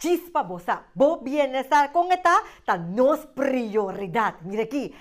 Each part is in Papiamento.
Chispa bo sa, bo bienestar con e ta ta nos prioridad. Mira aki,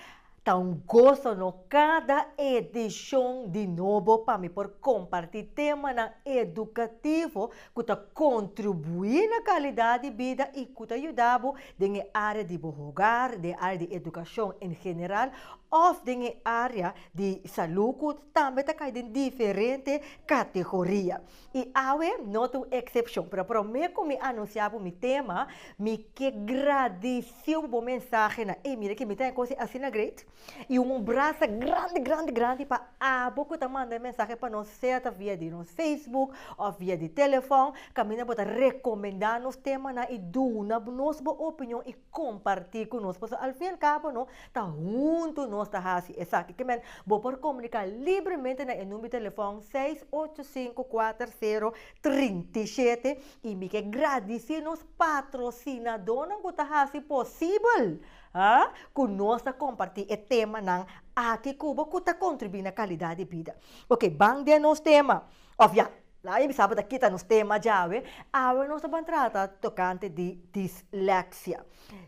ta un goso no cada edicion di nobo pa mi por comparti temanan educativo cu ta contribui na calidad di bida y cu ta yuda bo den e area di bo hogar, den e area di educacion en general of den e area di salud cu tambe ta cay den diferente categoria. I awe no ta un eksepshon. Pero promé ku mi anunsiá bo mi tema, mi ke gradisiu bo mensahe nan. Ey, mira ke mi ta e kos asina great. I un brasa grandi, grandi, grandi pa abo ku ta manda e mensahe pa nos, sea ta via di nos Facebook òf via di telefòn. Kaminda bo ta rekomendá nos temanan i duna nos bo opinion. comparti cu nos pasobra al fin y al cabo no ta hunto nos ta haci esaki ki men bo por comunica libremente na e number di telefon seis ocho cinco cuater cero trinta y shete y mi ke gradici nos patrocinadonan cu ta haci posibel ah cu nos ta comparti e temanan aki cu bo cu ta contribui na calidad di bida ok ban den nos tema of ya. La e bisa bo ta kita nos tema djawe. Awe nos ta ban trata tokante di disleksia.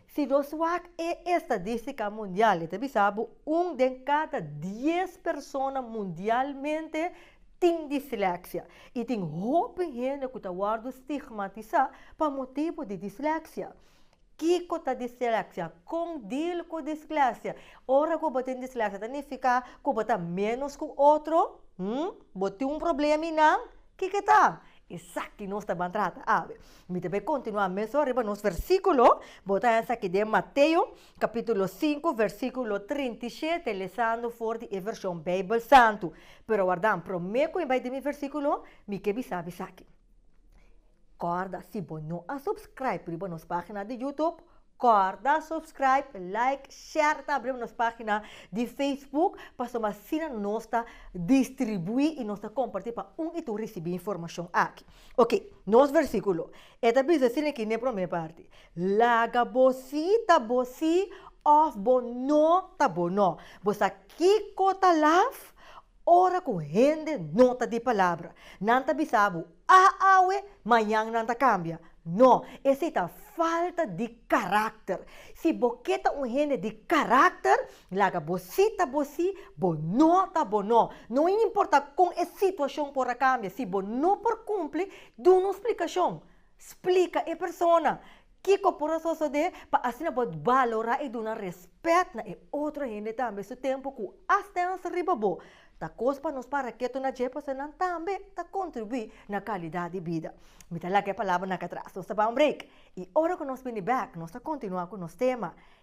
Si nos wak e estadistika mundial e ta bisa bo un den kada dies persona mundialmente tin disleksia. I tin hopi hende ku ta wòrdu stigmatisá pa motibu di disleksia. Kiko ta distracia? Kon deal ku disgracia? Ora ku bo tin disgracia ta nifiká ku bo ta ménos ku otro? Hm? Bo tin un problema i nan? Kiko ta? Esaki nos ta ban trata awe. Mi ta bai kontinuá mesun riba nos versíkulo. Bo ta haña esaki den Mateo, kapítulo sinku, versíkulo trinta i shete, lesando for di e vershon Beibel Santu. Pero warda, promé ku mi bai di mi versíkulo, mi ke bisá bo esaki. Corda si bo no a subscribe riba nos pagina di YouTube, corda subscribe, like, share ta riba nos pagina di Facebook pasobra ma asina nos ta distribui y nos ta comparti pa un y tur ricibi informacion aki. Ok, nos versiculo e ta bisa asina aki n'e prome parti, Laga bo si ta bo si of bo no ta bo no. Bo sa kico ta laf Ora ku hende no ta di palabra, nan ta bisa bo, Ah awe, mañan nan ta kambia. No, esei ta falta di karakter. Si bo ke ta un hende di karakter, laga bo sí ta bo sí, bo no ta bo no. No a importa kon e situashon por a kambia, si bo no por kumpli, duna un splikashon. Splika e persona. Kiko por a sosodé pa asina bo balorá i duna rèspèt na e otro hende tambe su tempu ku asdens riba bo? Ta kos pa nos para ketu na dje pasobra nan tambe ta kontribuí na kalidat di bida. Mi ta laga e palabranan akatras. Nos ta ban un break i ora ku nos bini bèk nos ta kontinuá ku nos tema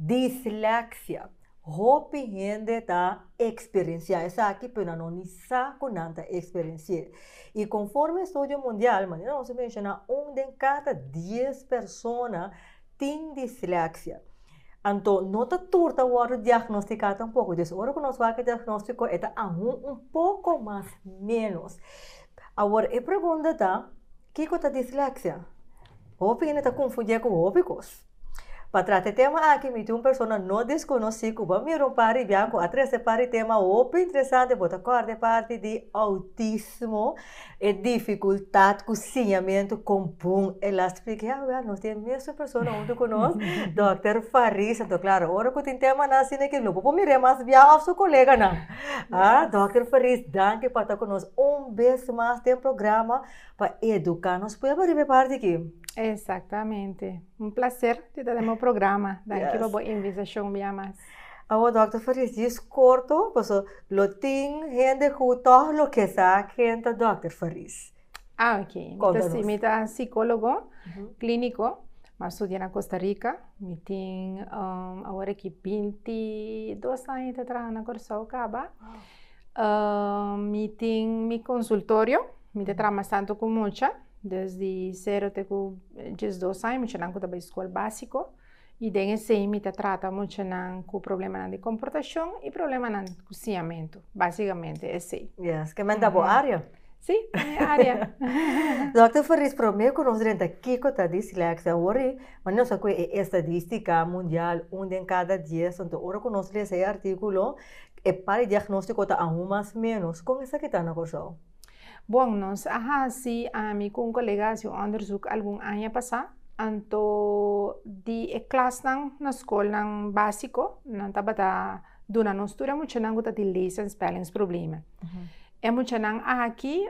Dislexia. Hopi hende ta eksperensiá esaki pero nan no ni sa ku nan ta eksperensi'é. I konformi estudio mundial, manera nos a menshoná, un den kada dies persona tin dislexia. Anto no ta tur ta wòrdu diagnostiká tampoko. Des ora ku nos wak e diagnóstiko e ta aun un poko mas ménos. Awor e pregunta ta, kiko ta dislexia? Hopi hende ta konfundié ku hopi kos. Pa trate tema aki mi tin un persona no desconocí cu bo mira un pari bianco a trece pari tema hopi interesante bo ta corda e parti di autismo e dificultad cu siñamento con bon el a splica ya wea nos tin e mesun persona hunto cu nos Doctor Farisa enton claro ora cu tin tema nan asina aquí lo bo por mira e mas biaho of su coleganan Doctor Faris danki pa ta cu nos un bes mas den programa. pa educa nos pueblo riba e parti aki. Exactamente. Un placer di ta den bo programa. Danki pa bo invitacion bia mas. Awo Doctor Faris, djis corto paso lo tin hende cu toh lo ke sa ken ta Doctor Faris. Ah, ok. Mi ta, si, mi ta psicólogo clínico. Mi a studia na Costa Rica. Mi tin awor aki binti dos aña ta traha na Curaçao caba. mi tin mi consultorio, mi ta traha bastante cu mucha, desde cero te cu diesdos aña, muchanan cu ta bay school basico, y den esey mi ta trata muchanan cu problemanan di comportacion y problemanan cu siñamento, basicamente esey. Yes, kimen ta bo área? Sí, ta mi área. Dokter Farias, prome cu nos drenta kico ta dislexia awor e, ma nos a coge e estadistica mundial, un den cada dies, enton ora cu nos lesa e articulo, E par di diagnóstiko ta aun mas ménos. Kon esaki ta na Kòrsou? Bon, nos a hasi, ami ku un kolegas, un òndersuk algun aña pasá. Anto di e klasnan na skolnan básiko, nan tabata duna nos tur e muchanan ku ta di lees en spellings problema. E muchanan aki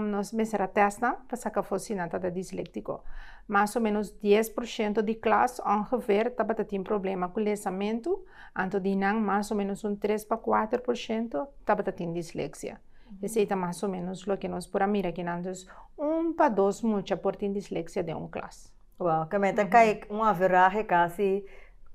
nos mester a testa pa saka for si nan tabata disléktiko. Mas o ménos dies por shento di klas ongefeer tabata tin problema ku lesamentu, anto di nan mas o ménos un tres pa kuater por shento tabata tin disleksia. Esei ta mas o ménos loke nos por a mira kinan. Dus un pa dos mucha por tin disleksia den un klas. Wow, kami ta kai un averahe kasi,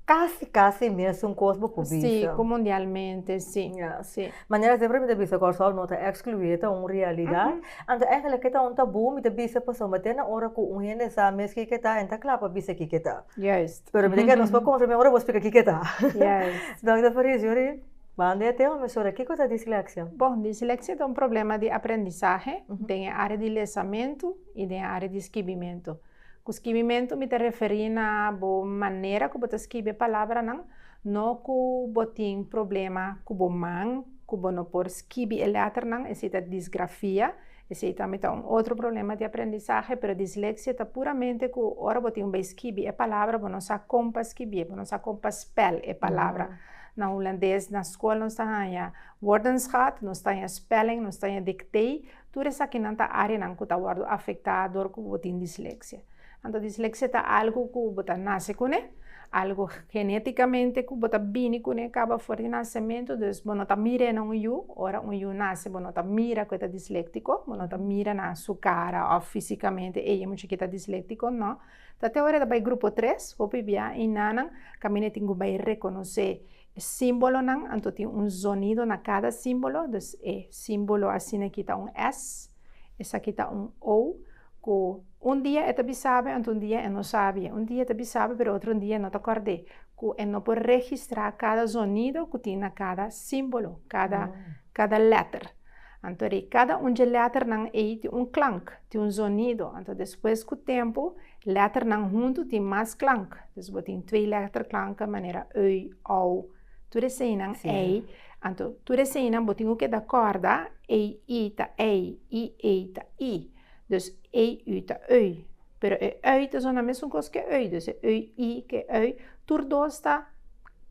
kasi kasi mesun kos bo ku bisa. Si, ku mundialmente, si. Ya. Si. Manera siempre mi ta bisa Kòrsou no ta ekskluí, e ta un realidat. Anto eigelik ke ta un tabú, mi ta bisa pasobra mi te na ora ku un hende sa mes ki ke ta, e ta kla pa bisa ki ke ta. Juist. Pero mi ta kere nos por konfirm'é ora bo spika ki ke ta. Juist. Dòkter Farice, yuri banda e tema mesora, kiko ta disleksia? Bon, disleksia ta un problema di aprendisahe den e área di lesamentu. i den área di skibimentu. Ku skibimentu mi ta referí na bo manera ku bo ta skibi e palabranan, no ku bo tin problema ku bo man ku bo no por skibi e lèternan, esei ta disgrafia, esei tambe ta un otro problema di aprendisahe, pero disleksia ta puramente ku ora bo tin bai skibi e palabra bo no sa kon pa skibié, bo no sa kon pa spèl e palabra. Na hulandes na skol nos ta haña woordenschaat, nos ta haña spelling, nos ta haña dictée, Tur esakinan ta áreanan ku ta wòrdu afektá dor ku bo tin disleksia. Anto disleksia ta algu ku bo ta nase kuné, algu genétikamente ku bo ta bini kuné kaba for di nasementu, dus bo no ta mir'é na un yu, ora un yu nase bo no ta mira ku e ta disléktiko, bo no ta mira na su kara òf físikamente ey e muchachito ta disléktiko, nò. Ta te ora e ta bai grupo tres, hopi bia i nanan kaminda tin ku bai rekonosé. E símbolonan anto tin un zonido na kada símbolo, dus e símbolo asina aki ta un S, esaki ta un O, ku un dia e ta bisabe anto un dia e no sabie. Un dia e ta bisabe pero otro dia e no ta kòrd'é, ku e no por registrá kada zonido ku tin na kada símbolo, kada lèter. Anto di kada un dje lèternan ei tin un klank. Tin un zonido, anto despues ku tempu, lèternan huntu tin mas klank. Dus bo tin twee lèterklanke manera ui, ou, tur eseinan ei. Anto tur eseinan bo tin ku keda kòrda, ei, i ta ei, i, ei ta i. Dus ei, ui ta ui. Pero e ui ta sona mesun kos ku e ui, dus e ui, i ku e ui, tur dos ta,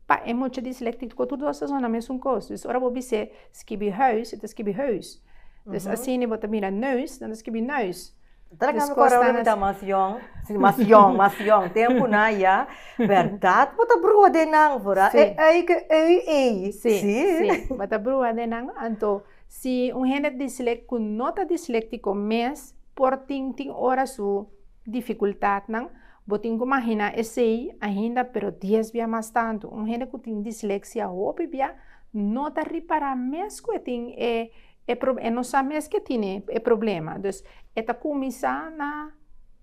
pa e mucha dislèktico, tur dos ta sona mesun kos. Dus ora bo bis'é skibi huis, e ta skibi hùùs. Dus asini bo ta mira neus, nan ta skibi neus. Ta na kami kora ora mi ta mas yòn, si mas yòn, mas yòn, tempunan ya, bèrdat bo ta brua den nan for a e ei ke ei ei. Si, si, bo ta brua den nan. Anto si un hende dislèk ku no ta disléktiko mes por tin tin ora su. Dificultadnan, Bo tin cu magina esey ainda pero dies bia mas tanto. Un hende cu tin dislexia hopi bia no ta ripara mes cu e tin e e pro e no sa mes cu e tine e problema. Dus e ta cuminsa na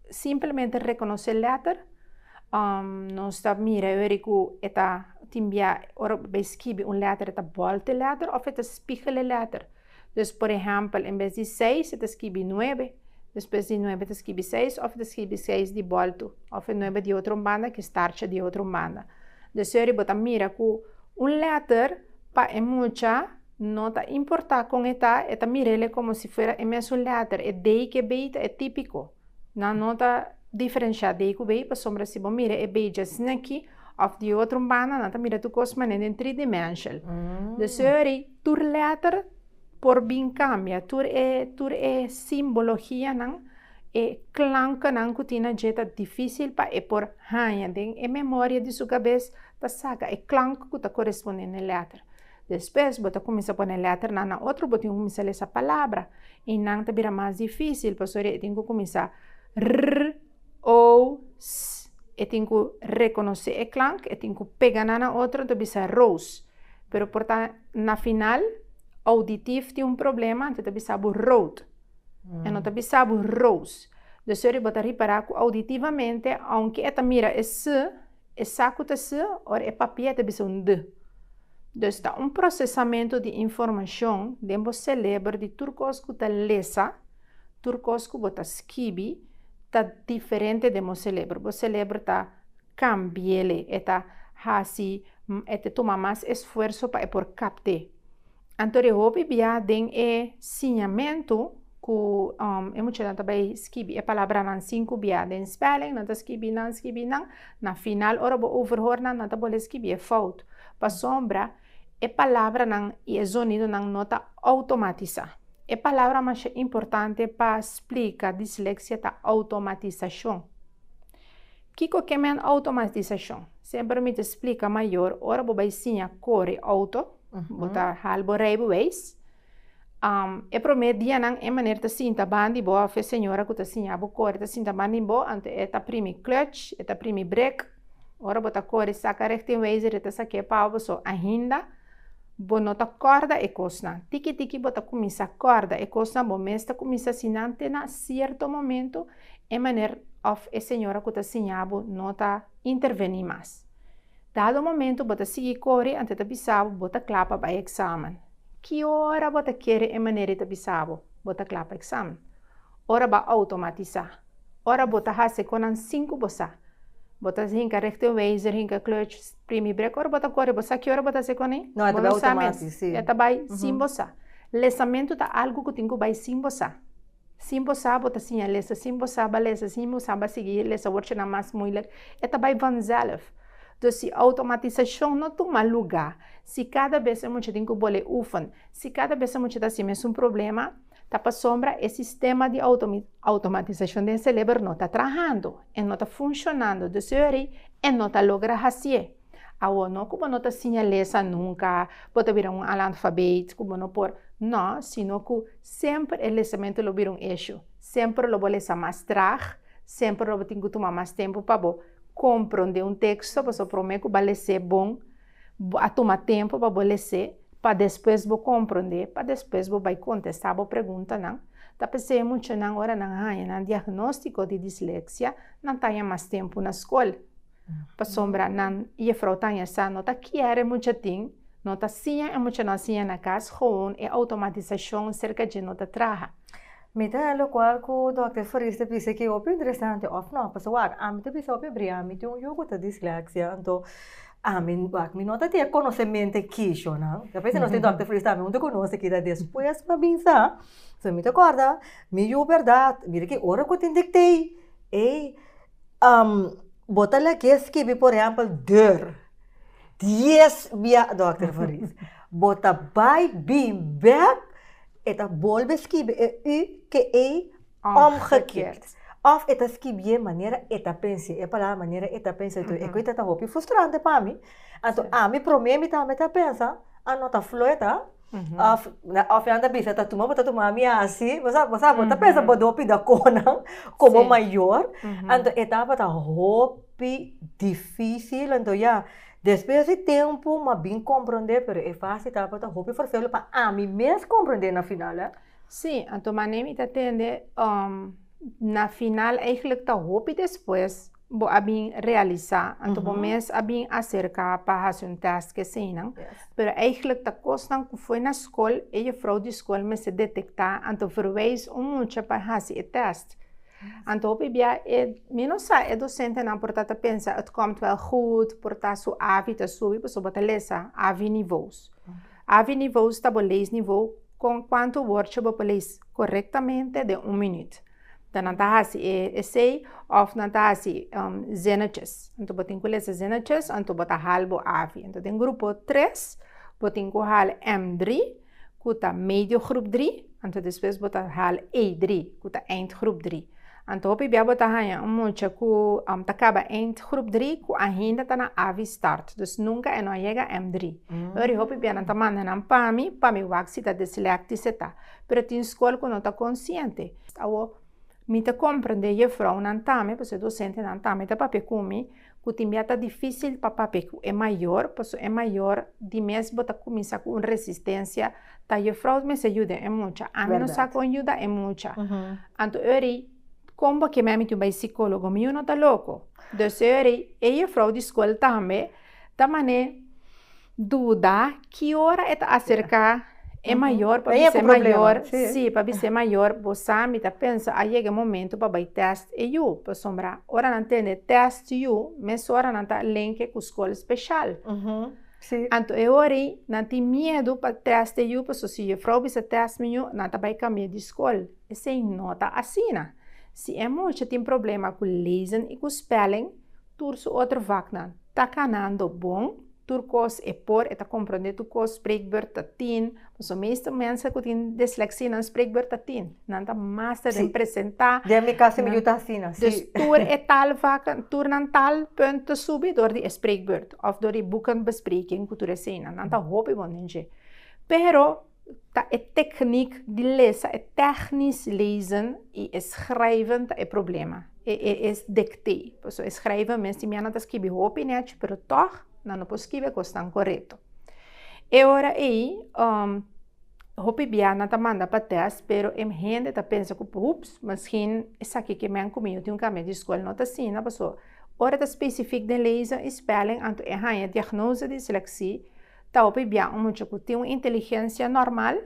simplemente reconoce letter, nos ta mira e weri cu e ta tin bia ora bay skibi un letter e ta bolte letter of e ta spigele letter. Dus por ehèmpel, en bes di seis e ta skibi nuebe, despues di nuebe ta skibi seis òf e ta skibi seis di bòltu, òf e nuebe di otro un banda ku e starcha di otro un banda. Desori bo ta mira ku un lèter pa e mucha no ta importá kon e ta, e ta mir'ele komo si fuera e mesun lèter, e dei ku e bey ta e típiko. Nan no ta diferenshiá dei ku bey pasobra si bo mira e bey dja sn'aki òf di otro un banda nan ta mira tur kos mané den tri dimenshal. Desori. Tur letter por bin cambia, tur e, tur e simbologianan, e klankennan cu tin na dje ta dificil pa e por haña den e memoria di su cabes ta saca e klank cu ta corespondende e letter. Despues bo ta cuminsa pone letternan na otro, bo tin cu cuminsa lesa palabra y nan ta bira mas dificil pasobra e tin cu cuminsa rrr. o, s, e tin ku rekonosé e klank, e tin ku pega nan na otro, anto bisa rous. Pero por ta na final, ouditif tin un problema, anto ta bisa bo rout. E no ta bisa bo rous. Dus ora bo ta ripará ku ouditivamente, ounke e ta mira e s, e sa ku ta s, ora e papia e ta bisa un d. Dus ta un prosesamentu di informashon den bo seleber di tur kos ku ta lesa. Tur kos ku bo ta skibi ta diferente den bo selebro. Bo selebro ta kambi'é. E ta hasi, e ta tuma mas esfuerso pa e por kapt'é. Anto di hopi bia den e siñamentu ku e muchanan ta bai skibi e palabranan sinku bia den spèling, nan ta skibi nan, skibi nan. Na final, ora bo overhoor nan, nan ta bole skibi e fout. Pasobra. E palabranan i e zonidonan no ta outomatisá. E palabra masha importante pa splika disleksia ta outomatisashon. Kiko ke men outomatisashon? Semper mi ta splika mayor, ora bo bai siña kore outo, bo ta hal bo reibeweis, E promé dianan e maner ta sinta ban di bo of e señora ku ta siña bo kore ta sinta ban di bo, anto e ta primi clutch, e ta primi brek. Ora bo ta kore saka richtingwijzer e ta sak'é pau bo, so ainda bo no ta kòrda e kosnan. Tiki tiki bo ta kuminsá kòrda e kosnan, bo mes ta kuminsá sinan te na sierto momento e maner of e señora ku ta siña bo no ta intervení mas. Dado momento bo ta sigui kore anto e ta bisa bo bo ta kla pa bai eksamen. Ki ora bo ta kere e manera e ta bisa bo, bo ta kla pa eksamen? Ora bo a outomatisá? Ora bo ta hasi kon nan sin ku bo sa? Bo ta hinka rechteweiser, hinka klutch, primi brek ora bo ta kore? Bo sa ki ora bo ta hasi kon ei? No, e ta bai outomatis, sí. E ta bai sin bo sa. Lesamentu ta algu ku tin ku bai sin bo sa. Sin bo sa bo ta siña lesa, sin bo sa ba lesa, sin bo sa ba sigui lesa wordsnan mas muilek, e ta bai vanzelf. Dus si outomatisashon no tuma lugá, si kada bes e mucha tin ku bol'é ufan, si kada bes e mucha ta hasi mesun problema, ta pasobra e sistema di outomatisashon den e serebro no ta trahando, e no ta funshonando, dus yori e no ta logra hasié. Awor, no ku bo no ta siña lesa nunka, bo ta bira un alanfabeit ku bo no por, no, sino ku semper e lesamentu lo bira un eshu, semper lo bo lesa mas trag, semper lo bo tin ku tuma mas tempu pa bo komprondé un teksto, pasobra promé ku bo a lesé bon, bo a tuma tempu pa bo lesé, pa despues bo komprondé, pa despues bo bai kontestá bo preguntanan. Ta p'esei muchanan ora nan haña nan diagnóstiko di disleksia, nan ta haña mas tempu na skol. Pasobra nan jefrouw taña sa no ta kier e muchatin, no ta siña e muchanan siña na cas gewoon e automatisacion cerca dje no ta traha. Mi ta hel locual cu Dòkter Farias ta bisa cu e hopi interesante of no? Pasa wak, ami ta bisa hopi abri ami tin un yu cu ta dislexia anto ami wak mi no ta tin e conocemento e kishonan. Ta parece nos tin Dòkter Farias tambe un ta conoce ki ta despues pa bin sa. So mi ta corda mi yu berdad, mira ki ora cu tin dictee, ey. Um, bo ta lag'é skibi, por ehèmpel, deur. Dies bia, Dòkter Fariz. Bo ta bai, bin, bèk, e ta bolbe skibi e ü ke e òmgekeerd. Òf e ta skibié manera e ta pens'é, e palabra manera e ta pens'é. Toh e ku ita ta hopi frustrante pa mi. Anto ami promé mi tambe ta pensa, a no ta flueta. Of na of nan ta bisa ta tuma bo ta tuma mi asi bo sa bo sa bo ta pensa bo do pida konan komo mayor anto etapa ta hopi dificil anto ya despues di tempo m'a bin comprende pero e fase etapa ta hopi forsel pa ami mes comprende na final eh. Si anto manera mi ta tende na final eigenlijk ta hopi despues bo a bin realisa anto bo mes a bin aserka pa hasi un test ke eseinan pero eigenlijk ta kosnan ku for na skol e jufrou di skol mester detekta anto verwijs un mucha pa hasi e test anto hopi bia e mi no sa e dosentenan por ta ta pensa et komt wel goed por ta su avi ta subi pasobra bo ta lesa avi nivous avi nivous ta bo lees nivou kon kuantu wordje bo por lees korektamente den un minuut. ta nan ta hasi e esei of nan ta hasi um, zinnetjes. Anto bo tin ku lesa zinnetjes, anto bo ta hal bo avi. Anto den grupo tres, bo tin ku hal M dri, ku ta medio grup dri, anto despues bo ta hal E dri, ku ta eind grup dri. Anto hopi bia bo ta haña un mucha ku um, ta kaba eind grup dri ku ainda ta na avi start. Dus nunka e no a yega M dri. Ori hopi bia nan ta manda nan pa mi, pa mi wak si ta dislèktisch e ta. Pero tin skol ku no ta konsiente. Awo, mi ta komprendé jefrounan tambe, pasobra e dosentenan tambe ta papia ku mi, ku tin bia ta difísil pa papia ku e mayor, pasobra e mayor di mes bo ta kuminsá ku un resistensia ta jefrou mester yuda e mucha, ami no sa kon yuda e mucha. Anto eri, kon bo ke mehé mi tin bai sikólogo? Mi yu no ta loko. Entonces eri, e jefrou di skol tambe. Ta mané duda ki ora e ta aserká e mayor pa bis'é mayor sí pa bis'é mayor bo sa mi ta pensa a yega e momento pa bai tèst e yu pasobra ora nan tende tèst yu mesora nan ta lenke ku skol speshal anto e or'i nan tin miedu pa tèst e yu paso si jefrou bisa tèst mi yu nan ta bai kambia di skol esei no ta asina si e mucha tin problema ku lezen i ku spèlling Tur su otro vaknan ta kanando bon, tur kos e por, e ta komprondé tur kos, spreekbeurt ta tin, pasobra meestal mense ku tin disleksía nan spreekbeurt ta tin, nan ta mas ta den presentá, Den mi kasa mi yu ta asina, si. Dus tur e tal vak, tur nan tal punt ta subi dor di e spreekbeurt òf dor di buken bespreking ku tur eseinan, nan ta hopi bon den dje, pero. ta e teknik di lesa e technisch lezen i e schrijven ta e problema. E, e, e dikte. Paso e schrijven mes tin bia nan ta skibi hopi nech, pero tòg nan no por skibi e kosnan korekto. E ora ei, um, hopi bia nan ta manda pa tèst, pero e hende ta pensa ku, Ups, miskien esaki ke men ku mi yo tin un kambia di skol no ta asina, paso ora ta spesifik den lezen i spèling anto e haña diagnose di disleksi, Ta hopi bia un mucha ku tin un inteligensia normal,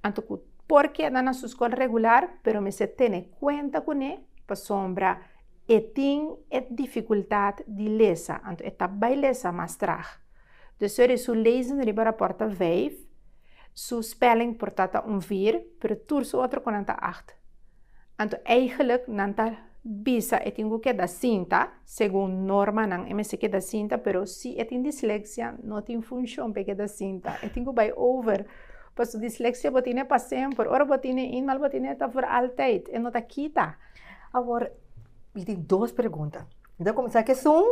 anto ku por keda na su skol regular, pero mester tene kuenta kuné pasobra e tin e difikultat di lesa, anto e ta bai lesa mas trag. Despues di su lezing riba raport ta vijf, su spelling por ta ta un vier, pero tur su otro konan ta acht. Anto eigelijk nan ta bisa e tin ku keda sinta. Segun normanan e mester keda sinta, pero si e tin disleksia no tin funshon pa e keda sinta, e tin ku bai over. Pasobra disleksia bo tine pa semper, ora bo tine in mal bo tine ta for altyd, e no ta kita. Awor mi tin dos pregunta, mi ta komensá ku esun,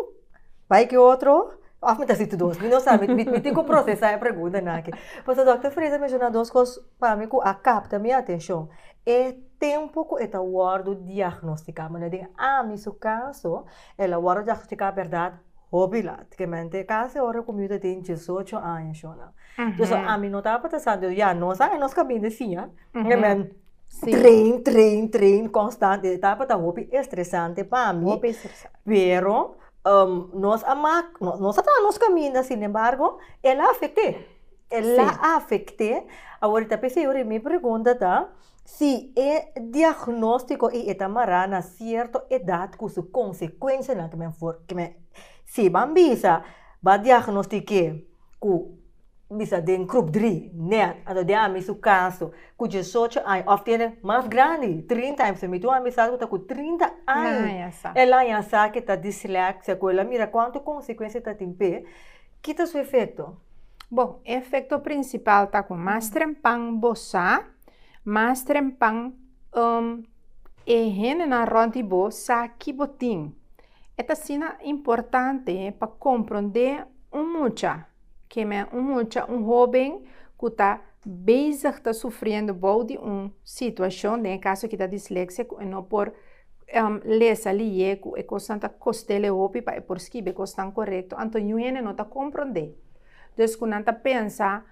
bai ku e otro òf mi ta hasi tu dos? Mi no sa, mi mi tin ku prosesá e preguntanan aki. Pasobra dòkter Freda a menshoná dos kos pa mi ku a kapta mi atenshon. E tempu ku e ta wòrdu diagnostiká. Manera den ami su kaso, el a wòrdu diagnostiká bèrdat hopi lat, ke mente kasi ora ku mi yu ta tin diesocho aña shona. Pues ami no tabata sa, entonces ya nos a nos ka bin di siña, ke men train, train, train konstant, e tabata hopi estresante pa mi, pero nos a mak, nos a traha nos kaminda, sin embargo el a afekt'é. E la afecté. Aworita pe si ori mi pregunta ta si e diagnóstico y e ta mará na cierto edad cu su consecuencianan que men for que men si ban bisa ba diagnostiqué cu bisa den groep dri net anto den ami su caso cu diesocho aña of tiene mas grandi trinta aña pasobra mi tin un amistad cu ta cu trinta aña el aña sa que ta dislexia cu el a mira cuanto consecuencia ta tin p'e. Kita su efekto? Bon, e efekto prinsipal ta ku mas trempan bo sa, mas trempan um e hendenan rònt di bo sa ki bo tin. Et asina importante pa komprondé un mucha, ke men un mucha, un hóben ku ta bezig ta sufriendo bou di un situashon, den e kaso kita disleksia, ku e no por lesa, lié ku e kosnan ta kost'el e hopi pa e por skibe kosnan korekto, anto yu hende no ta komprondé. Des ku nan ta pensa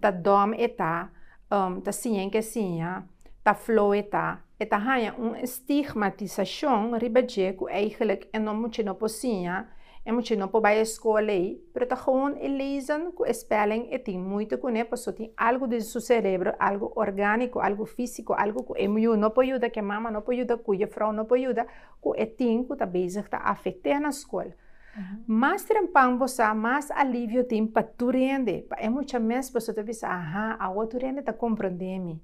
ta dòm e ta, ta siñen ke siña, ta flou e ta, e ta haña un stigmatisashon riba dje ku eigelijk e mucha no por siña, e mucha no por bai e skol ei, Pero ta gewoon e lezen cu e spelling e tin moeite cune paso tin algo den su cerebro, algo organico, algo fisico, algo cu e muyu no por yuda, cu e mama no por yuda, cu juffrouw no por yuda, cu e tin cu ta bezig ta afect'e na school. Mas trempan bo sa, mas alivio tin pa tur hende, pa e mucha mes paso ta bisa, aha, awo tur hende ta comprende mi.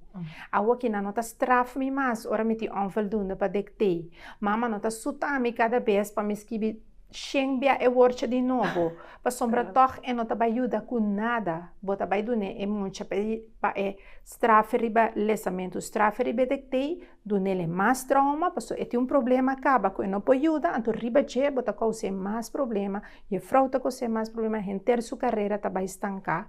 Awo kinan no ta straf mi mas ora mi tin onvoldoende pa dictee. Mama no ta suta mi cada bes pa mi skibi. Shen bia e worcha di nobo, pasobra tòg e no ta bai yuda ku nada. Bo ta bai dun'é e muncha pa e strafe riba lesamentu. Strafe riba e dektei, dun'el e mas trauma, paso e tin un problema kaba ku e no por yuda, anto riba dje bo ta kous'é mas problema, jefrou ta kos'é mas problema, henter su karera ta bai stanká.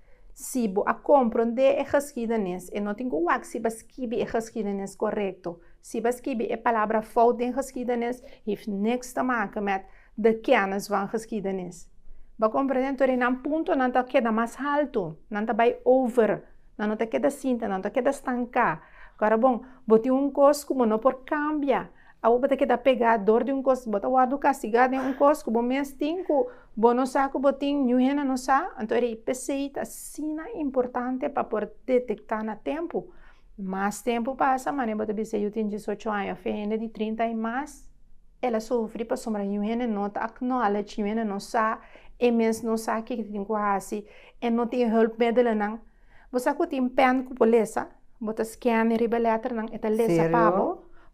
Si bo a komprondé e geskiedenis, e no tin ku wak si b'a skibi e geskiedenis korekto. Si b'a skibi e palabra fout den geskiedenis, hif niks te make mèt de kènis van geskiedenis. B'a komprondé tur e nan punto nan ta keda mas haltu, nan ta bai over, nan no ta keda sinta, nan ta keda stanká. Kòrda bon, bo tin un kos ku bo no por kambia. Awor bo ta keda pegá dor di un kos, bo ta wòrdu kastigá den un kos ku bo mes tin ku bo no sa ku bo tin, niun hende no sa. Anto e IPC ta asina importante pa por detektá na tempu. Mas tempu pasa, manera bo ta bis'é yu tin diesocho aña òf e hende di trinta i mas, el a sufri pasobra niun hende no ta acknowledge, niun hende no sa, e mes no sa kiko tin ku hasi, e no tin hùlpmiddelennan. Bo sa ku tin pèn ku bo lesa? Bo ta skène riba lèternan e ta lesa pa bo?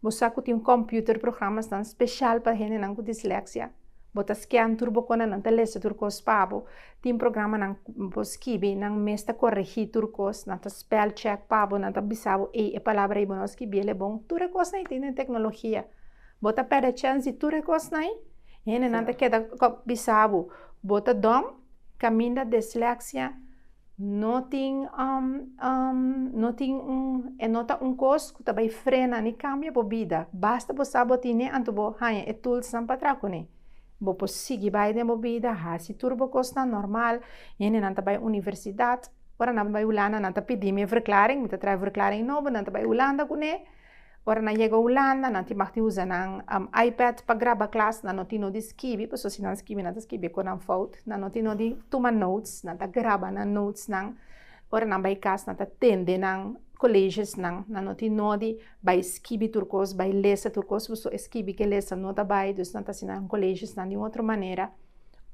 Bo sa ku tin kòmpiuter programasnan spesial pa hendenan ku disleksia? Bo ta skèn tur bo konde nan ta lesa tur kos pa bo? Tin programanan ku bo skibi nan mes ta koregí tur kos, nan ta spèl chèk pa bo, nan ta bisa bo, ei e palabra ei bo no skibiel e bon. Tur e kosnan ei tin den teknologia. Bo ta pèrdè chèns di tur e kosnan ei. Hendenan ta keda bisa bo, bo ta dòm kaminda disleksia No tin no tin un e no ta un kos ku ta bai frena ni kambia bo bida. Basta bo sa bo tine anto bo haña e tulsnan pa traha kuné. Bo por sigui bai den bo bida, hasi tur bo kosnan nòrmal. Hendenan ta bai universidat. Ora nan bai Hulanda nan ta pidi mi e verklaring, mi ta traha e verklaring nobo, nan ta bai Hulanda kuné. Ora nan yega Hulanda, nan tin mag di usa nan iPad pa graba klas, nan no tin no di skibi, pasobra si nan skibi nan ta skibi ku nan fout, nan no tin no di tuma notes, nan ta graba nan notesnan, ora nan bai kas nan ta tende nan koleshiosnan, nan no tin no di bai skibi tur kos, bai lesa tur kos, pasobra e skibi ku e lesa no ta bai, dus nan ta hasi nan koleshiosnan di un otro manera,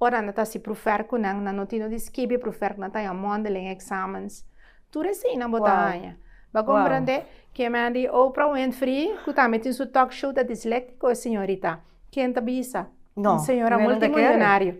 ora nan ta hasi prufer ku nan, nan no tin no di skibi e prufer ku nan ta haña mondeling examens. Tur e seinan bo ta haña. Bo a komprendé ke men di Oprah Winfrey, ku tambe tin su talk show, ta disléktiko e señorita. Ken ta bisa? No. Un señora multimillonario.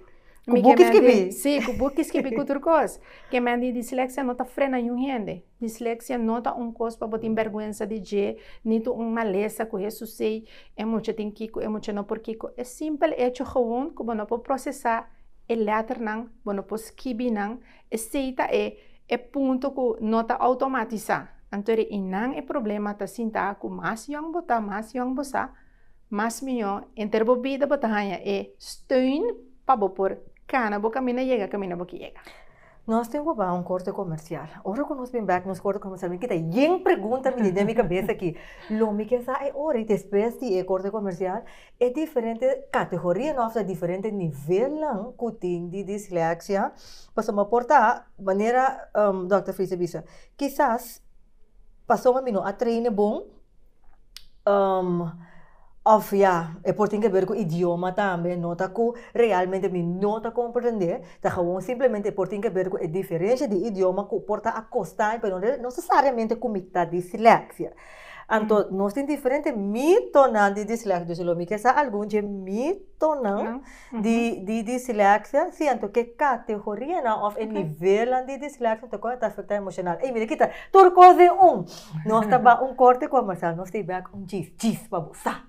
Ku buki skibi. Sí, ku buki skibi, ku tur kos. Ke men di disleksia no ta frena niun hende. Disleksia no ta un kos pa bo tin bèrgwensa di dje, nitu un malesa ku Hesus sei e mucha tin kiko, e mucha no por kiko. E simpel echo, gewoon, ku bo no por prosesá e lèternan, bo no por skibi nan. Esei ta e e punto ku no ta outomatisá, anto ri i nan e problema ta sintá ku mas yòn bo ta, mas yòn bo sa, mas mihó enter bo bida bo ta haña e steun pa bo por kana bo kaminda yega kaminda bo ke yega. Nos tin ku bai un korte komersial. Ora ku nos bin bèk nos korte komersial mi kita yen pregunta mi den mi kabes aki, lo mi ke sa e ora? I despues di e korte komersial. E diferente kategorianan òf e diferente nivelnan ku tin di disleksia, pasobra mi por ta manera Dòkter Friese a bisa, kisas pasobra mi no a treine bon òf ya e por tin keber ku idioma tambe, no ta ku realmente mi no ta komprende, ta gewoon simplemente e por tin keber ku e diferensha di idioma ku por ta akostaña pero no nesesariamente ku mi ta disleksia. Anto nos tin diferente mitonan di disleksia. Dus lo mi ke sa algun dje mitonan di di disleksia. Si anto ke kategorianan òf e nivelnan di disleksia ta kòrda ta afektá e emoshonal. Ey mi ta kita tur kos den un. Nos ta bai un kòrte ku a Marcel nos ta bai un djis djis pa bo sa.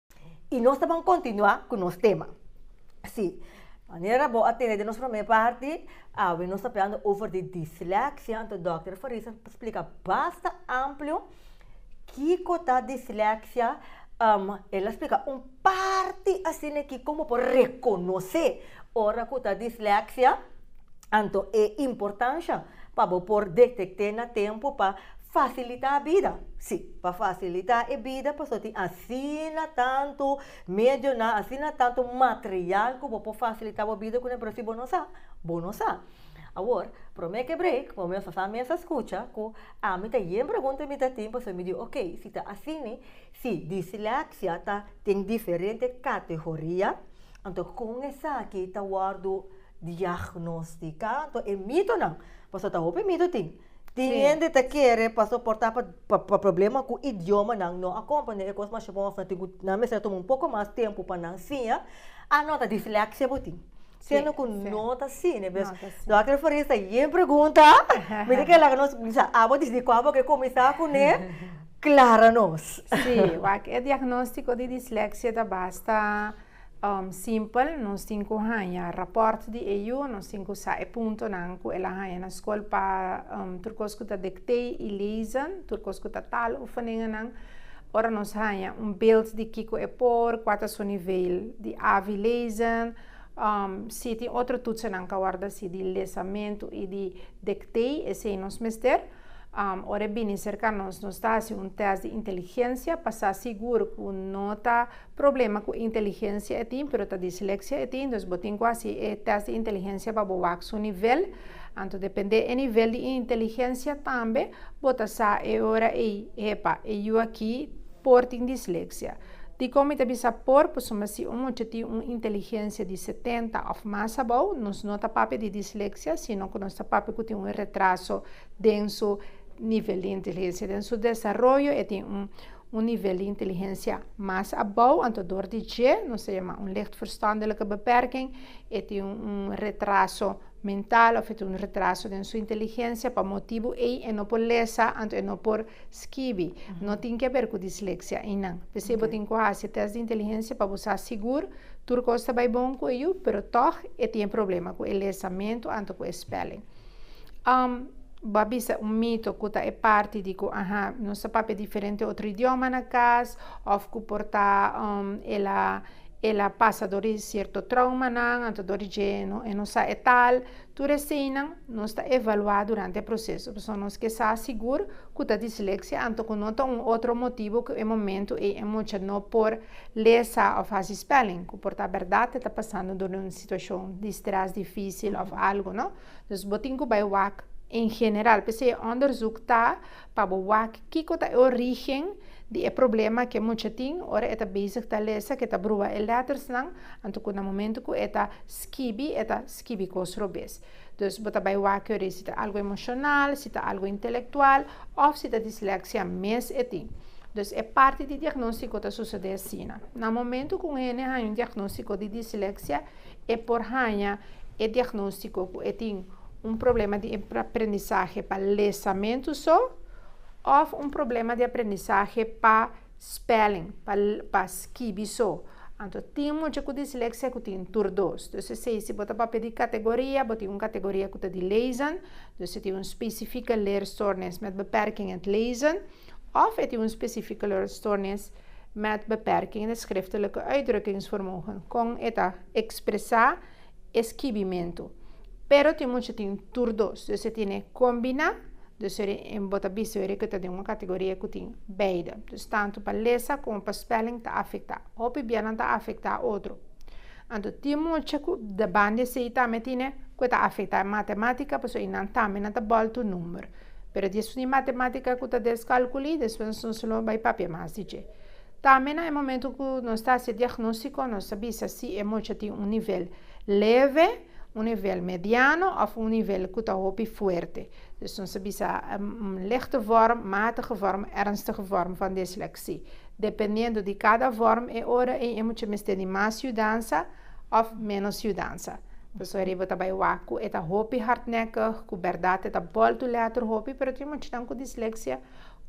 Y nos ta ban continua cu nos tema. Si, manera bo a tene den nos prome parti, awe nos ta hablando over di dislexia, anto Dr. Faris a splica basta amplio kiko ta dislexia, um, el a splica un parti asina ki como por reconoce ora cu ta dislexia, Anto e importansha pa bo por detekt'é na tempu pa fasilitá bida. Sí, pa fasilitá e bida pasobra tin asina tantu medionan, asina tantu material ku bo por fasilitá bo bida ku nan, pero si bo no sa, bo no sa. Awor, promé ke break, bo mes a sa, mes a skucha ku ami ta yen pregunta mi ta tin pasobra mi di ok, si ta asina, si disleksia ta den diferente kategoria, anto kon esaki ta wòrdu Diagnosticá anto e mitonan, pasobra ta hopi mito tin. Tin Sí. hende ta kere pa soportá pa, pa, pa problema ku idioma nan no a komprendé e kos masha bon òf nan tin ku nan mester a tuma un poko mas tempu pa nan siña, a no ta disleksia bo tin. Sí, Siendo ku sí. no ta así, ne bes. No ta así. Dòkter Farias ta yen pregunta, mi ta kila ku nos, o sea, abo disidí kua bo ke kuminsá kuné, klara nos. Sí, wak e diagnóstiko di disleksia ta basta Um simpel, nos tin cu haña raport di e yu, nos tin cu sa e puntonan cu el a haña na scol pa um tur cos cu ta dictee y lezen, tur cos cu ta tal oefeningennan. Ora nos haña un beeld di kico e por, cua ta su nivel di avi lezen, um si tin otro toetsennan ca wordo asi di lezamento y di dictee, esey nos mester. Um ora e bini cerca nos, nos ta haci un test di inteligencia pa sa sigur cu no ta. problema cu inteligencia e tin pero ta dislexia e tin entonces bo tin cu haci e test di inteligencia pa bo wak su nivel anto depende e nivel di inteligencia tambe bo ta sa e ora ey epa e yu aki por tin dislexia dicon mi ta bisa por pasobra si un mucha tin un inteligencia di setenta of mas abao nos no ta papia di dislexia sino cu nos ta papia cu tin un retraso den su nivel di inteligencia den su desaroyo e tin un un nivel di inteligensia mas abou, anto dor di dje nos ta yama un lichtverstandelige beperking, e tin un un retraso mental of e tin un retraso den su inteligensia, pa motibu ei e no por lesa, anto e no por skibi, no tin ke haber ku disleksia einan. P'esei bo tin ku hasi e tèst di inteligensia pa bo sa sigur tur kos ta bai bon ku e yu, pero tòg e tin e problema ku e lesamentu anto ku e spèling. Um, bo a bisa un mito ku ta e parti di ku aha, nos ta papia diferente otro idioma na kas, òf ku por ta um e la e la pasa dor di sierto traumanan, anto dor di dje e no sa e tal. Tur eseinan nos ta evaluá durante e proseso. Pasobra nos ke sa sigur ku ta disleksia anto ku no ta un otro motibu ku e momentu ei e mucha no por. Lesa of hasi spelling cu por ta berdad e ta pasando door un situacion di stress dificil of algo, no? Dus bo tin cu bay wak en general. P'esey e onderzoek ta pa bo wak kico ta e origen di e problema cu e mucha tin ora e ta bezig ta lesa, cu e ta brua e lettersnan, anto cu na momento cu e ta skibi, e ta skibi cos robes. Dus bo ta bai wak yori si ta algu emoshonal, si ta algu intelektual òf si ta dislèksia mes e tin. Dus e parti di diagnóstiko ta susede asina. Na momentu ku un hende haña un diagnóstiko di dislèksia, e por haña e diagnóstiko ku e tin un problema di aprendisahe pa lesamentu so òf un problema di aprendisahe pa. Spelling, pa pa skibi so. Anto tin mucha ku disleksia ku tin tur dos. Dus esei si bo ta papia di kategoria, bo tin un kategoria ku ta di lezen, dus e tin un spesifike leerstoornis met beperking in het lezen, òf e tin un spesifike leerstoornis met beperking in het schriftelijke uitdrukkingsvermogen, kon e ta ekspresá. e skibimentu. Pero tin mucha tin tur dos, dus e tene kombiná, dus e bo ta bisa yore ku ta den un kategoria ku tin beide. Dus tantu pa lesa komo pa spèling ta afektá. Hopi bianan ta afektá otro. Anto tin mucha ku deban di esei tambe e tene ku e ta afektá e matematika pasobra i nan tambe nan ta bòl tur number. Pero di esun di matematika ku ta des kalkulí, despues nan solo bai papia mas di dje. Tambe na e momento ku nos ta hasi e diagnóstiko nos ta bisa si e mocha tin un nivel leve, un nivel mediano òf un nivel ku ta hopi fuerte. Dus nos ta bisa lichte vorm, matige vorm, ernstige vorm van disleksie. Dependiendo di kada vorm e ora ei e mocha mester di mas yudansa òf ménos yudansa. Pasobra riba ta bai wak ku e ta hopi hardnèkig, ku bèrdat e ta bòltu lèter hopi, pero tin mochanan ku disleksie.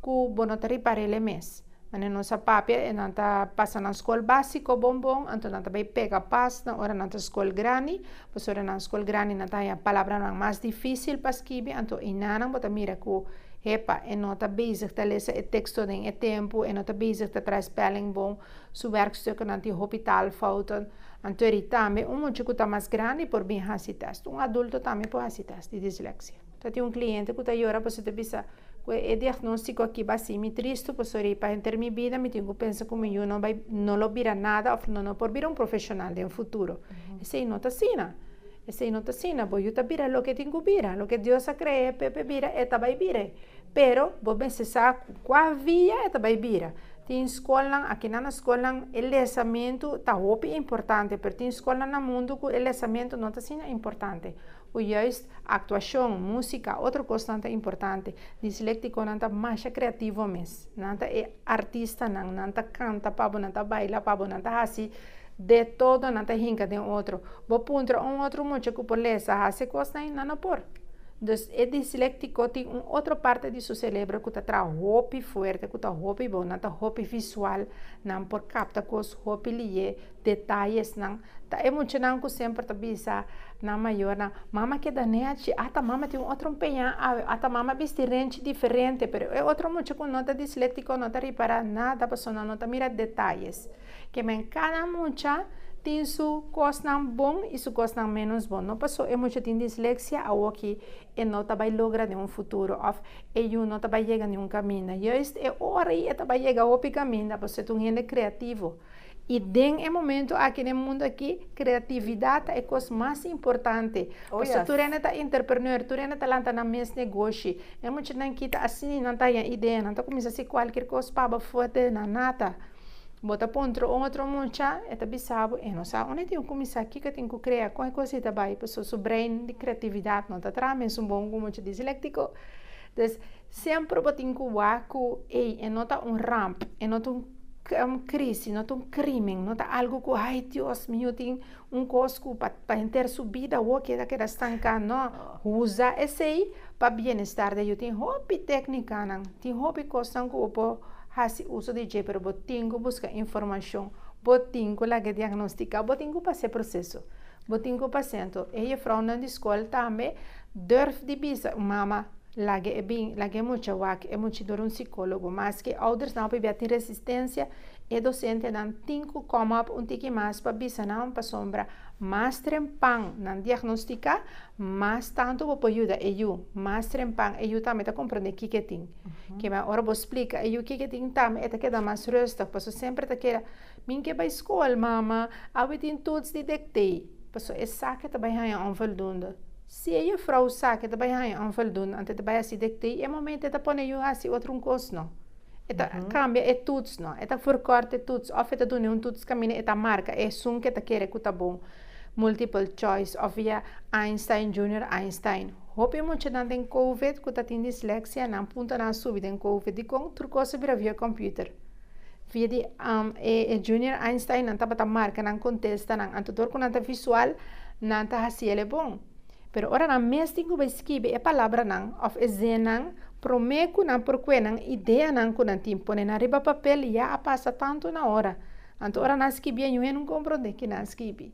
Ku bo no ta riparel e mes. Ane nos a papia e nan ta pasa nan skol básiko bon bon, anto nan ta bai pega pas na ora nan ta skol grandi, pasobra nan skol grandi nan ta haña palabranan mas difísil pa skibi, anto einanan bo ta mira ku hepa, e no ta bezig ta lesa e teksto den e tempu, e no ta bezig ta trae spèling bon, su wèrkstukennan tin hopi taalfouten, antori tambe un muchu ku ta mas grandi por bin hasi tèst. Un adulto tambe por hasi tèst di dislèksia. Ta tin un cliente cu ta yora pasobra ta bisa, Cu e diagnostico aki ba haci mi tristu pasobra riba henter mi bida mi tin cu pensa cu mi yu no bay, no lo bira nada of no no por bira un profesional den futuro. Esey no ta asina. Esey no ta asina. Bo yu ta bira loke tin cu bira. Loke Dios a crea pe pe bira e ta bay bira. Pero bo mester sa cua via e ta bay bira. Tin scolnan, akinan na scolnan e lesamento ta hopi importante pero tin scolnan na mundo cu e lesamento no ta asina importante. o juist aktuashon, músika o otro kosnan ta importante. Disléktikonan ta masha kreativo mes. Nan ta e artistanan, nan ta kanta pa bo, nan ta baila pa bo, nan ta hasi de todo, nan ta hinka den otro. Bo puntra un otro mucha ku por lesa hasi e kosnan ei? Nan no por. Dus, e disléktiko tin un otro parte di su serebro ku ta traha hopi fuerte, ku ta hopi bon, nan ta hopi visual, nan por kapta kos hopi lihé. Detayesnan, Ta e muchanan ku semper ta bisa nan mayornan, Mama keda nechi, ata mama tin un otro un peña awe, ata mama bisti renchi diferente. Pero e otro mucha ku no ta disléktiko no ta ripará nada pasobra nan no ta mira detayes. Kemey, Kada mucha tin su kosnan bon i su kosnan ménos bon. No paso e mucha tin disleksia awoki e no ta bai logra den un futuro òf e yu no ta bai yega niun kaminda. Juist e ora i e ta bai yega hopi kaminda pasobra e ta un hende kreativo. I den e momento aki den mundu aki, kreatividat ta e kos mas importante. Pasobra tur hende ta entrepreneur, tur hende ta lanta nan mes negoshi. E muchanan kita asina nan ta haña idea, nan ta kuminsá hasi kualker kos pa bai forte na nata. Bo ta puntra un otro mucha, e ta bisa bo, e no sa unda e tin ku kuminsá, kiko e tin ku krea, kon e kos ei ta bai? Pasobra su brein di kreatividat no ta traha mesun bon ku un mucha dislèktiko. Entonces. Semper bo tin cu wak cu ey e no ta un ramp, e no ta un crisi, no ta un crimen, no ta algo cu ay Dios mio tin un cos cu pa pa henter su bida wou keda keda stanca, no, uza esey pa bienestar dje, yo tin hopi tecnicanan, tin hopi cosnan cu bo por haci uso di dje, pero bo tin cu busca informacion, bo tin cu laga diagnostica, bo tin cu pasa e proceso, bo tin cu pasa, enton e jefrounan di scol tambe durf di bisa, mama. Laga e bin, laga e mucha wak e mucha door un psicologo. Maske oudersnan hopi bia tin resistensia, e docentenan tin cu come up un tiki mas pa bisanan pasobra mas trempan nan diagnostica, mas tanto bo por yuda e yu, mas trempan e yu tambe ta comprende kiko e tin. Kema ora bo splica e yu kiko e tin tambe e ta keda mas rustig paso semper ta keda Min ke bay school, mama, awe tin toets di dictee. Paso esaki ta bay haya onvoldoende. Si e jufrou sa ke ta bai haña onvoldoende anto e ta bai hasi dikté, e momento e ta pone yu hasi otro un kos no. E ta kambia e tuts no, e ta forkort e tuts òf e ta dun'é un tuts kaminda e ta marka e asun ke ta kere ku ta bon, multiple choice òf via Einstein, Junior Einstein. Hopi muchanan den Covid ku ta tin disleksia nan puntonan a subi den Covid dikon tur kos a bira via kòmpiuter. Via di um, e, e Junior Einstein nan tabata marca nan contestanan. Anto dor cu nan ta visual, nan ta haciele bon. Pero ora nan mes tin cu bay skibi e palabranan of e zinnan, prome cu nan por cue nan ideanan cu nan tin pone nan riba papel ya a pasa tanto na ora. Anto ora nan skibié nunhe nun compronde ki nan skibi.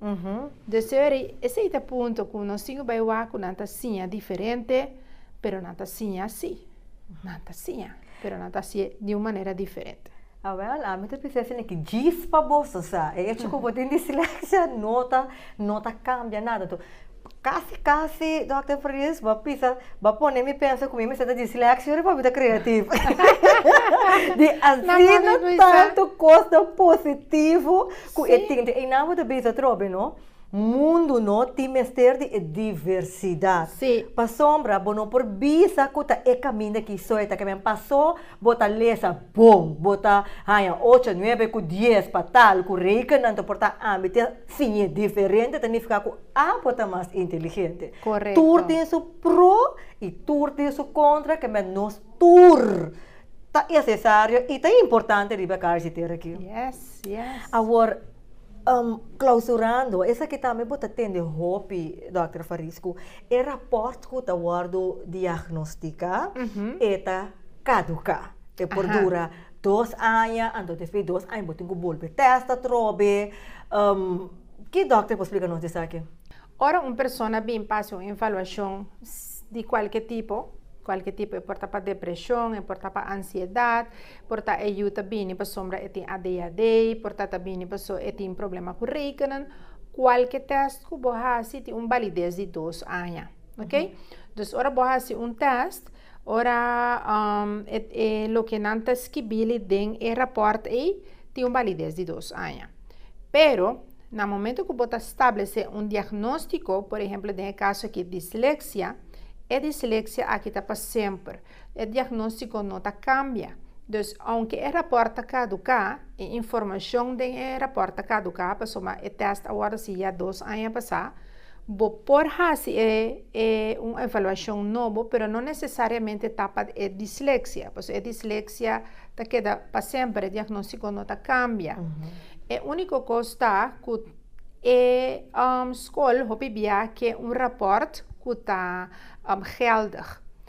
Dus Seury, esey ta punto cu nos tin cu bay wak cu nan ta siña diferente, pero nan ta siña si. Nan ta siña, pero nan ta hasié di un manera diferente. Awèl, ami ta pensá esei ki djis pa bos, o sea, e echo ku bo tin disleksia no ta, no ta kambia nada. Tò, kasi kasi Dòkter Fredis bo a bisa, bo a pone mi pensa ku mi mester ta disleksia riba mi ta kreativo. Di asina tantu kos positivo ku e tende. Einan bo ta bisa atrobe, no? Mundu no tin mester di e diversidat. Sí. Pasobra bo no por bisa ku ta e kaminda ki soy ta kaminda. Pasó bo ta lesa bon, bo ta haña ocho, nuebe ku dies pa tal ku rekenanto por ta ambi te siñe diferente ta nifiká ku abo ta mas inteligente. Korekto. Tur tin su pro i tur tin su kontra kemen nos tur ta nesesario i ta importante riba e karchi ter akí. Yes, yes. Awor. Um, klausurando, esaki tambe bo ta tende hopi, dokter Faris, ku e rapòrt ku ta wòrdu diagnostiká, e ta kaduká. E por dura dos aña, anto despues dos aña bo tin ku bolbe tèst atrobe. Um, ki dokter por splika nos di esaki? Ora un persona bin pa hasi un evaluashon di kualke tipo, kualke tipo, e por ta pa depreshon, e por ta pa ansiedat, Por ta e yu ta bini pasobra e tin ADHD, por ta ta bini paso e tin problema ku rekenen. Kualke tèst ku bo hasi tin un balides di dos aña, oke? Dus ora bo hasi un tèst, ora e loke nan ta skibili den e rapòrt ei tin un balides di dos aña. Pero na momento ku bo ta stablesé un diagnóstiko, por ehempel den e kaso aki disleksia, e disleksia aki ta pa semper. E diagnóstiko no ta kambia. Dus, ounke e rapòrt ta kaduká, e informashon den e rapòrt ta kaduká pasobra e tèst a wòrdu hasi ya dos aña pasá. Bo por hasi e e un evaluashon nobo pero no nesesariamente ta pa e disleksia, pasobra e disleksia ta keda pa semper, e diagnóstiko no ta kambia. E úniko kos ta ku e skol hopi bia ke un rapòrt ku ta gèldig.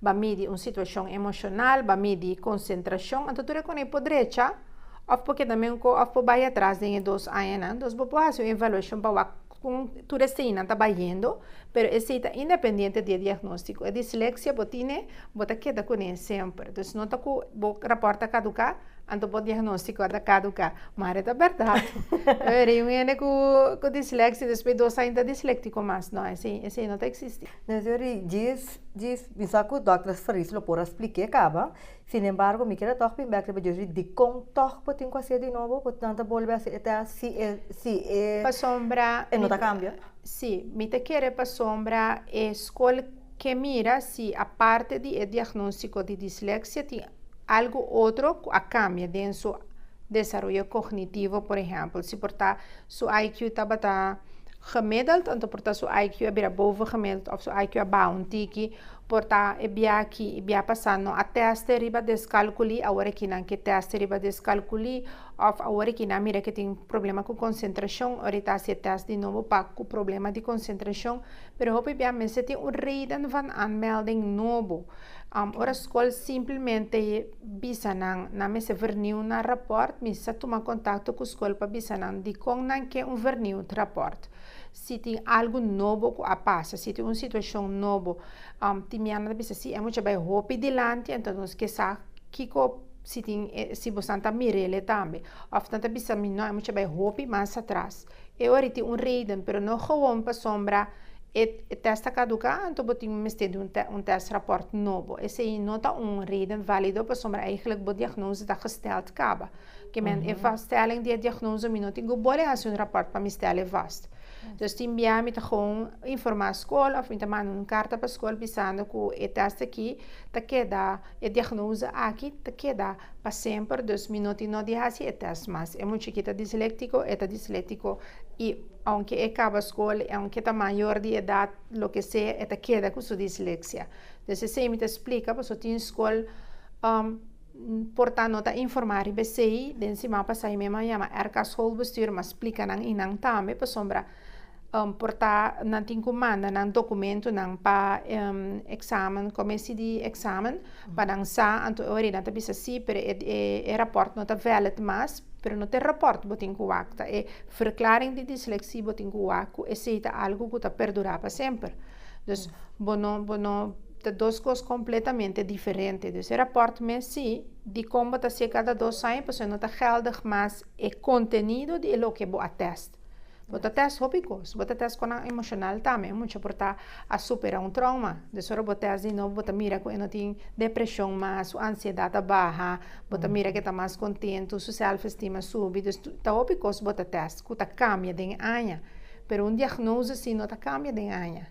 Ba midi un situashon emoshonal, ba midi konsentrashon, anto tur e konei por drecha òf por keda miunko òf por bai atras den e dos añanan. Entos bo por hasi un evaluashon pa wak kon tur eseinan ta bayendo, pero esei ta independiente di e diagnóstiko. E disleksia bo tine, bo ta keda kuné semper. Entonces no ta ku bo rapòrt ta kaduká, anto bo diagnóstiko a ta kaduká. Mari e ta bèrdat. Ora e un hende ku disleksia despues dos aña ta disléktiko mas. No, esei no ta eksistí. Mes yori djis djis mi sa cu doctors Fris lo por a spliké caba, sin embargo mi kier a tog pin bek riba djis ri dicon tog bo tin cu a hacié di nobo bo nan ta bolbe a hacer e test si e si e Pasobra e no ta cambia? Si, mi ta kere pasobra e scol ke mira si aparte di e diagnostico di dislexia tin algo otro cu a cambia den su desaroyo cognitivo, por ejemplo si por ta. Su IQ tabata gemiddeld, anto por ta su IQ a bira boven gemiddeld of su IQ a baha un tiki. Por ta e bia aki, e bia pasa no a teste riba descalculi, awor aki nan ke teste riba descalculi of awor aki nan a mira ke tin problema cu concentracion, ora e ta hasi e test di nobo pa cu problema di concentracion. Pero hopi bia mester tin un reden van aanmelding nobo. Ora scol simplemente. Bisa nan na mester verniu na rapòrt. Mi sa tuma kontakto ku skol pa bisa nan dikon nan ke un verniu ta rapòrt. Si tin algu nobo ku a pasa, si tin un situashon nobo, tin mi anata bisa si e mucha bai hopi dilanti, enton nos ke sa kiko, si tin, si bosan ta mir'ele tambe. Òf nan ta bisa mi, nò, e mucha bai hopi mas atras. E ora tin un reden pero no gewoon pa sombra e test ta caduca anto bo tin mester di un test rapport nobo. Esey no ta un reden valido pasobra eigenlijk bo diagnose ta gesteld caba. Kemen e vaststelling di e diagnose mi no tin cu bole haci un rapport pa mi stel e vast. Dus tin bia mi ta gewoon informa school of mi ta manda un carta pa school bisando cu e test aki ta keda. E diagnosa aki ta keda pa semper dus mi no tin no di hasi e test mas. E muchachi ta disléktiko, e ta disléktiko i ounke e kaba skol, i ounke e ta mayor di edat, loke sea, e ta keda ku su disleksia. Entonces esei mi ta splika paso tin skol por ta no ta informá riba esei. Den siman pasá mi mesma a yama RK Schoolbestuur, mi a splika nan i nan tambe pasobra. Um portá nan tin ku manda nan dokumentunan pa e eksamen, komesi di eksamen, pa nan sa. Anto e ora ei nan ta bisa sí, pero e e rapòrt no ta vèlid mas. Pero no ta e rapòrt bo tin ku wak, ta e Verklaring di Disleksí bo tin ku wak, ku esei ta algu ku ta perdurá pa semper. Dus, bo no, bo no, ta dos kos kompletamente diferente. Dus e rapòrt mes sí, dikon bo ta ser kada dos aña, pasobra no ta gèldig mas e kontenido di loke bo a tèst. Bo ta test hopi cos. Bo ta test con nan emocional tambe. Un mucha por ta a supera un trauma. Des ora bo test di no bo ta mira cu e no tin depresion mas, su ansiedad a baha, bo ta mira cu e ta mas contento, su self esteem a subi. Dus ta hopi cos bo ta test cu ta cambia den e aña. Pero un diagnose asi no ta cambia den aña.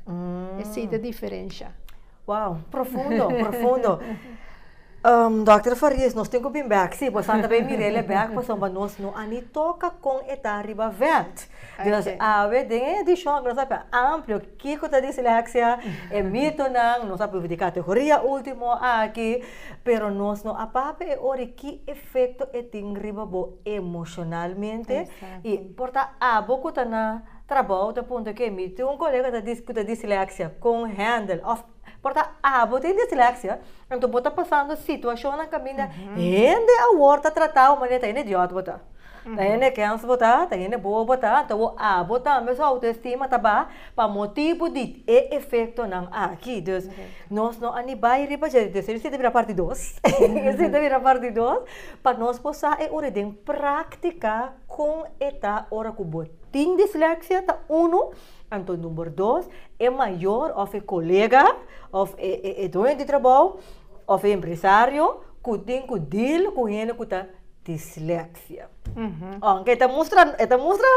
E si ta diferencia. Wow, profundo, profundo. Dòkter Farias, nos tin ku bin bèk, si, boso a tabei mira el e bèk pasobra bo nos no a ni toka kon e ta riba vènt. Dios awe den e edishon ku nos a papia amplio kiko ta disleksia, e mitonan, nos a pruvi di kategoria último aki, pero nos no a papia e ora ki efekto e tin riba bo emoshonalmente i por ta abo ku ta na Trabou ta punta ke mi tin un kolega ta dis ku ta disleksia kon handel òf por ta abo tin disleksia anto bo ta pasando situashonnan kaminda hende awor ta trata bo manera ta hende diot bo ta ta hende kèns bo ta ta hende bobo bo ta anto bo abo tambe su autoestima ta baha pa motibu di e efektonan aki dus nos no a ni bai riba dje dus esei ta bira parti dos esei ta bira parti dos pa nos por sa e ora den praktika kon e ta ora ku bo. Tin disleksia ta unu, anto number dos, e mayor of e kolega of e doño di trabou of e empresario ku tin ku deal ku hende ku ta disleksia. Aunke e ta mustra, e ta mustra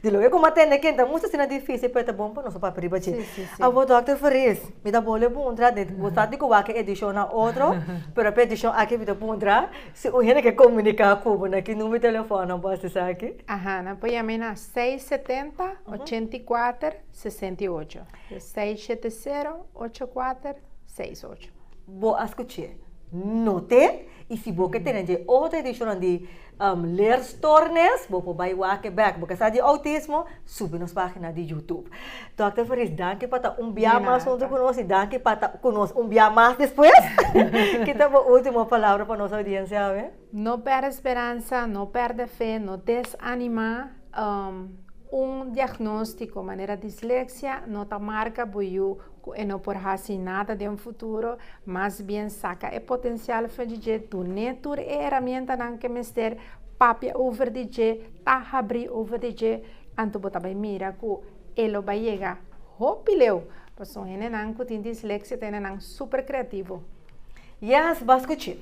di loke kuma tende ken ta mustra asina difisil pero e ta bon pa nos papia riba dje. Awor Dòkter Fariz, mi ta bole puntra, bo sa di ku wak e edishon a otro, pero pa e edishon aki mi ta puntra, Si un hende ke komuniká ku bo, na ki number telefono bo hasi esaki? Aha, nan por yama mi na seis setenta, ochenta i kuater, sesenta i ocho. Seis shete sero, ocho kuater, seis ocho. Bo a skuch'é, not'é, i si bo ke tene dje otro edishonnan di Leerstoornis, bo por bai wak e bèk. Bo ke sa di outismo, subi nos página di YouTube. Dokter Farish, danki pa ta un bia mas huntu ku nos i danki pa ta ku nos un bia mas despues. Kita bo ultimo palabra pa nos audiensia awe? No pèrdè speransa, no pèrdè fe, no desanimá. Un diagnóstiko manera disleksia no ta marka bo yu ku e no por hasi nada den futuro, mas bien saka e potensial fra di dje, dun'é tur e eramientanan ke mester, papia over di dje, ta habri over di dje, anto bo ta bai mira ku. E lo bai yega hopi leu, pasobra henenan ku tin disleksia ta henenan super kreativo. Yes, bas kuché!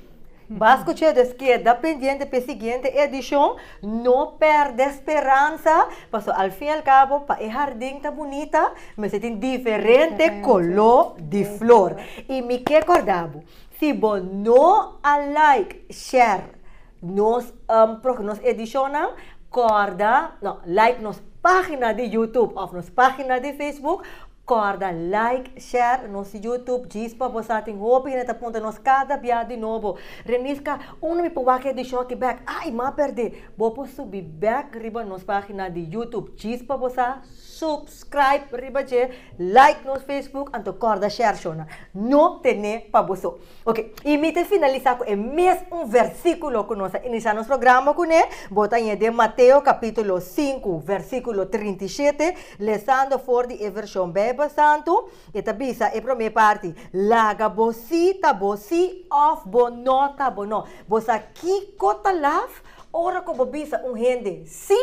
Bas kuché, dus keda pendiente p'e siguiente edishon, no pèrdè speransa, pasobra al fin y al cabo pa e hardin ta bunita mester tin diferente koló di flor. I mi ke kòrda bo, si bo no a like, share. Nos proximo nos edicionnan corda no like nos pagina di YouTube of nos pagina di Facebook corda like share nos YouTube djispa bo sa tin hopi hende ta punta nos cada bia di nobo Renisca unda mi por wak e edicion aki bek ay ma perde bo por subi bek riba nos pagina di YouTube djispa bo sa subscribe riba dje like nos Facebook anto corda share shona no tene pa bo so. Ok, y mi ta finalisa cu e mes un versiculo cu nos a inicia nos programa cu ne, bo ta yeh den Mateo capitulo sinku versiculo trinta y shete, lesando for di e version Bijbel Santu, e ta bisa e prome parti, Laga bo si ta bo si of bo no ta bo no. Bo sa kico ta laf? Ora cu bo bisa un hende si,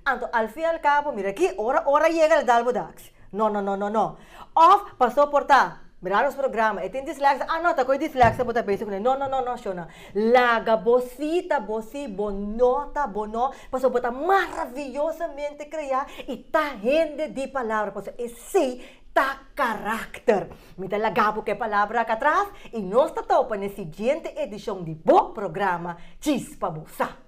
anto al fin y al cabo, mira aki, ora ora yega lo dal bo daks. No no no no no. Of paso por ta Mira nos programa, e tin dislexia, ah no, ta cu e dislexia bo ta bezig cu ne. No, no, no, no, Shona. Laga bo si ta bo si, bo no ta bo no, pasobra bo ta maravillosamente crea y ta hende di palabra, pasobra esey ta caracter. Mi ta laga bo cu e palabra aca atras y nos ta topa na e siguiente edicion di bo programa Chispa bo sa.